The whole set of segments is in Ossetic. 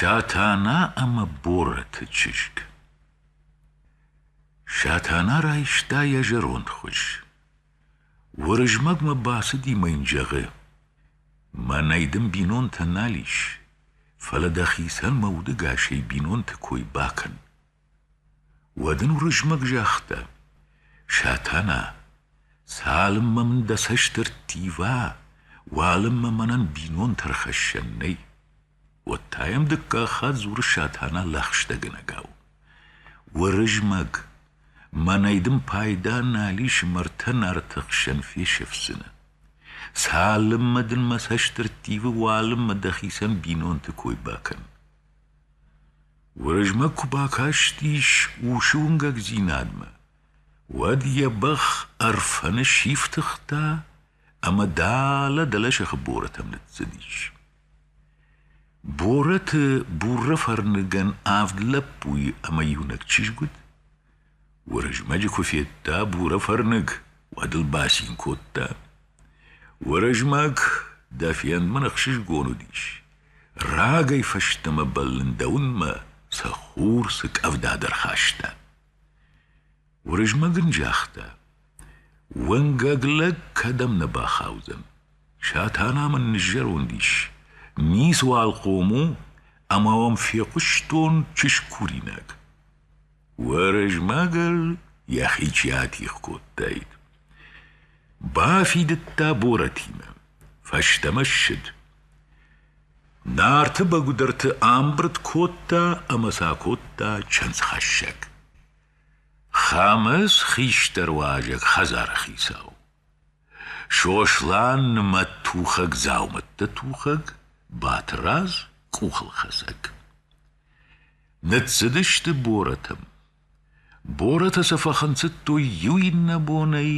Сатана ӕмӕ Борӕты чызг Сатана райста йӕ зӕронд хуыз. Уырызмӕгмӕ бацыди мӕ йын зӕгъы: Мӕнӕй дын бинонтӕ нал ис, фӕлӕ дӕхицӕн мӕ удӕгасӕй бинонты кой бакӕн. Уӕд ын Уырызмӕг загъта: Сатана, цалынмӕ мын дӕ цӕст ӕрттива, уалынмӕ мӕнӕн бинонты ӕрхӕссӕн нӕй. уӕд та йӕм дыккаг хатт дзуры Сатана лӕгъстӕгӕнӕгау: Уырызмӕг, мӕнӕй дын пайда нал ис мӕрдтӕ Нарты хсӕн фесӕфдзынӕн. Цалынмӕ дын мӕ цӕст ӕрттивы, уалынмӕ дӕхицӕн бинонты кой бакӕн. Уырызмӕг куы бакастис усы уынгӕгдзинадмӕ, уӕд йӕ бӕх Ӕрфӕны сифтыгъта ӕмӕ далӕ-далӕ сӕхи Борӕтӕм ныццыдис. Борӕты Бурӕфӕрныгӕн авд лӕппуйы ӕмӕ иунӕг чызг уыд. Уырызмӕджы куы федта Бурӕфӕрныг, уӕд ыл бацин кодта. — Уырызмӕг, дӕ фендмӕ ӕхсызгон уыдис. Рагӕй фӕстӕмӕ бӕллын дӕ уынмӕ, сӕ хур цы къӕвда дӕр хаста. Уырызмӕг ын загъта. — Уӕнгӕг лӕг кӕдӕм нӕ бахаудзӕн. Сатана мын ныззӕронд ис. Ницыуал хъом у, ӕмӕ уӕм фехъуыстон чызг куринаг. Уырызмӕгыл йӕхи чи атигъ кодтаид. Бафидыдта Борӕтимӕ, фӕстӕмӕ ссыд. Нарты бӕгуыдӕрты амбырд кодта ӕмӕ сӕ кодта чындзхӕссӕг. Хӕмыц хистӕр уазӕг хӕдзары хицау. Сослан нымӕттухӕг дзаумӕттӕ тухӕг, Батырадз къухылхӕцӕг. Ныццыдысты борӕтӕм. Борӕтӕ сӕ фӕхынцыдтой иу иннӕ бонӕй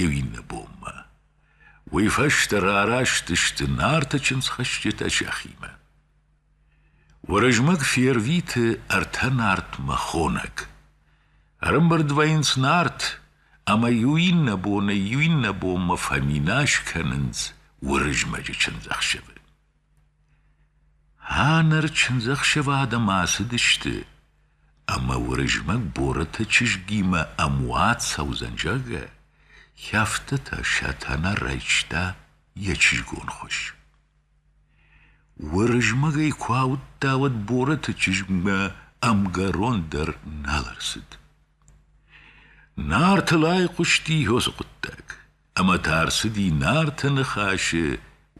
иу иннӕ бонмӕ. Уый фӕстӕ рараст сты Нарты чындзхӕсджытӕ сӕхимӕ. Уырызмӕг фервиты ӕртӕ Нартмӕ хонӕг. Ӕрымбырд вӕййынц Нарт, ӕмӕ иу иннӕ бонӕй иу иннӕ бонмӕ фӕминас кӕнынц Уырызмӕджы чындзӕхсӕвы. Ӕнӕр чындзӕхсӕвады ма ацыдысты, ӕмӕ Уырызмӕг Борыты чызгимӕ ӕмуат цӕудзӕн, зӕгъгӕ, хӕфтытӕ Сатана райста йӕ чызгон хуыз. Уырызмӕгӕй куы ауыдта, уӕд Борыты чызгмӕ ӕмгӕрон дӕр нал ӕрцыд. Нартыл айхъуысти Йозы хъуыддаг. ӕмӕ та ӕрцыди Нарты Ныхасы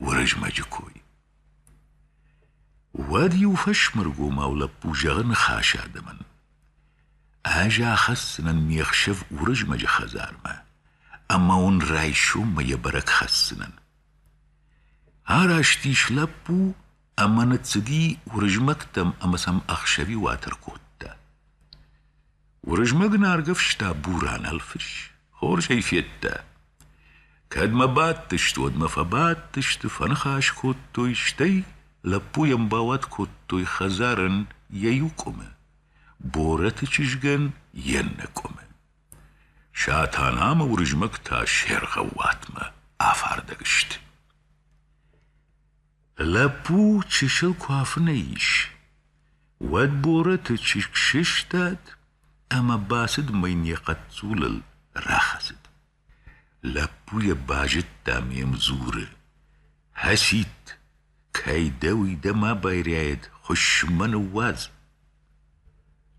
Уырызмӕджы кой. Уӕд иу фӕсмыргомау лӕппу зӕгъы ныхасы адӕмӕн. Ӕз ахӕсдзынӕн ме хсӕв Уырызмӕджы хӕдзармӕ, ӕмӕ уын райсоммӕ йӕ бӕрӕг хӕсдзынӕн. Араст ис лӕппу ӕмӕ ныццыди Уырызмӕгтӕм ӕмӕ сӕм ӕхсӕвиуатӕр кодта. Уырызмӕг наргӕвста Буранӕлфыс, хорз ӕй федта. Кӕд мӕ бадтысты, уӕд мӕ фӕбадтысты, фӕныхас кодтой, стӕй лӕппуйӕн бауат кодтой хӕдзарӕн йӕ иу къуымы, Борӕты чызгӕн йе ннӕ къуымы. Сатанамӕ Уырызмӕг та се ргъӕууатмӕ афардӕг сты. Лӕппу чысыл куы афынӕй ис, уӕд Борӕты чызг сыстад ӕмӕ бацыд мыйн йӕ хъӕццулыл рахӕцыд. Лӕппу йӕ базыдта ӕмӕ йӕм дзуры: «Хӕсид, кӕй дӕ уый дӕ ма байрӕйӕд, хуысс-ма ныууадз!»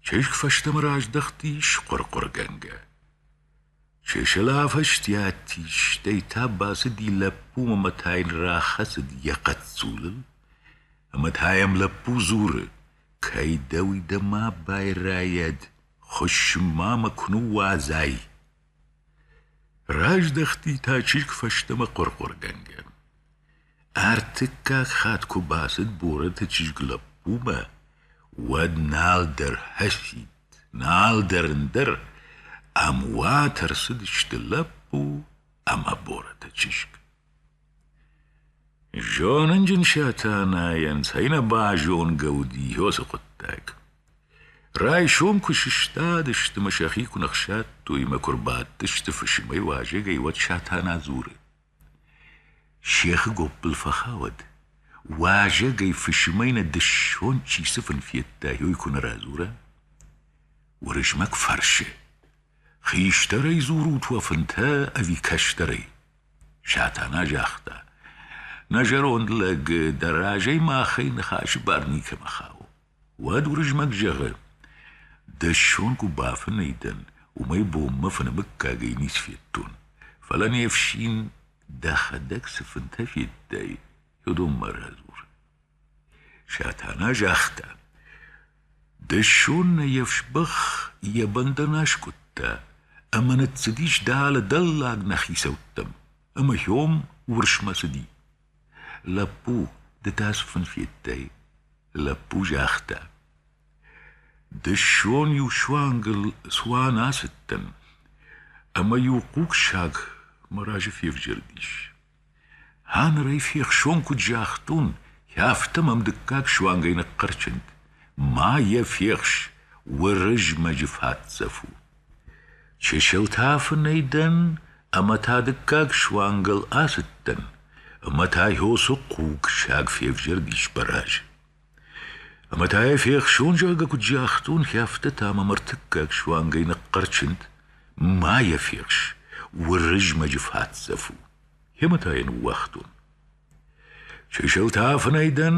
Чызг фӕстӕмӕ раздӕхтис хъуыр-хъуыргӕнгӕ. Чысыл афӕстиат истӕй та бацыди лӕппу ӕмӕ та йын рахӕцыд йӕ хъӕццулыл, ӕмӕ та йӕм лӕппу дзуры: «Кӕй дӕ уый дӕ ма байрайӕд, хуыссын ма мӕ куы ныууадзай!» Раздӕхти та чызг фӕстӕмӕ хъуыр-хъуыргӕнгӕ. Ӕртыккаг хатт куы бацыд Борӕты чызг лӕппумӕ, уӕд нал дӕр хӕссид, нал дӕр ӕндӕр, ӕм уат ӕрцыдысты лӕппу ӕмӕ Борӕты чызг. Зонынджын Сатанайӕн цӕй нӕ базонгӕ уыди уыцы хъуыддаг. Райсом куы сыстадысты мӕ сӕхи куы ныхсадтой мӕ куы рбадтысты фысымӕй уазӕгӕй, уӕд Сатана дзуры: Сехы гоппыл фӕхауӕд, уазӕгӕй фысымӕй нӕ дысон чи цыфӕн федта, уый куы нӕ радзура. Уырызмӕг фӕрсы: Хистӕрӕй дзурут уӕ фынтӕ ӕви кӕстӕрӕй? Сатана загъта: Нӕ зӕронд лӕг дӕ разӕй махӕй ныхасы бар никӕмӕ хауы. Уӕд Уырызмӕг зӕгъы: Дӕссон куы бафынӕй дӕн, уымӕй бонмӕ фынӕмыггагӕй ницы федтон, фӕлӕ не фсин дӕхӕдӕг цы фынтӕ федтай, уыдонмӕ радзур. Сатана загъта: Дӕссон нӕ йе фсбӕх йӕ бӕндӕн аскъуыдта ӕмӕ ныццыдис дӕлӕ-дӕллаг нӕ хицӕуттӕм, ӕмӕ Хьом уырсмӕ цыди. Лӕппу, ды та цы фын федтай? Лӕппу загъта. Дысон-иу суангыл цуан ацыдтӕн, ӕмӕ-иу хъугсаг мӕ разы февзӕрдис. Ха ныр ӕй фехсон куыд загътон, афтӕ мӕм дыккаг суангӕй ныхъхъӕрчынд: Ма йӕ фехс, Уырызмӕджы фӕдзӕф у! Чысыл та фынӕй дӕн ӕмӕ та дыккаг суангыл ацыдтӕн, ӕмӕ та Йосо хъугсаг февзӕрдис Баразы. Ӕмӕ та йӕ фехсон, зӕгъгӕ, куыд загътон, хи афтӕ та мӕм ӕртыккаг суангӕй ныхъхъӕрчынд: «Ма йӕ фехс, Уырызмӕджы фӕцӕф у!» Йемӕ та йӕ ныууагътон. Чысылтӕ афынӕй дӕн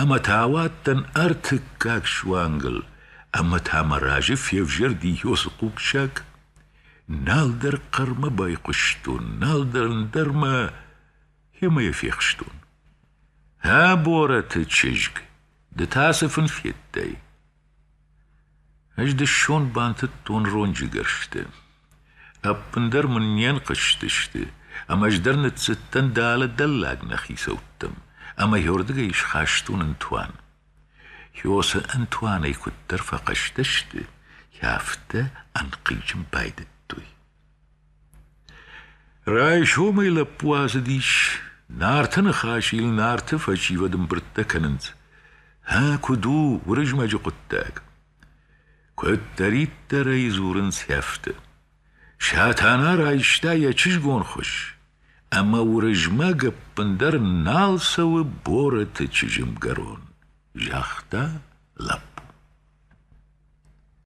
ӕмӕ та ауадтӕн ӕртыккаг суангыл, ӕмӕ та мӕ разы февзӕрди Йосы хъугсаг. Нал дӕр хъӕрмӕ байхъуыстон, нал дӕр ӕндӕрмӕ йемӕ йӕ фехстон. Ӕ борӕты чызг, ды та цы фын федтай? Ӕз дысон бантыдтон ронджыгӕрсты. Ӕппындӕр мын не нхъызтысты, ӕмӕ ӕз дӕр ныццыдтӕн дӕлӕ-дӕллаг нӕ хицӕуттӕм, ӕмӕ йӕрдыгӕй схастон ӕнтуан. Хьосы ӕнтуанӕй куыддӕр фӕхъӕстӕ сты, афтӕ ӕнхъизын байдыдтой. Райсомӕй лӕппу ацыдис, Нарты ныхас йыл Нарты фӕсивӕд ӕмбырдтӕ кӕнынц. Ӕ, куыд у Уырызмӕджы хъуыддаг? Куыддӕриддӕр ӕй дзурынц сӕфты. Сатана райста йӕ чызгон хуыз, ӕмӕ Уырызмӕг ӕппындӕр нал цӕуы Бороты чызгӕнгӕрон, загъта лӕппу.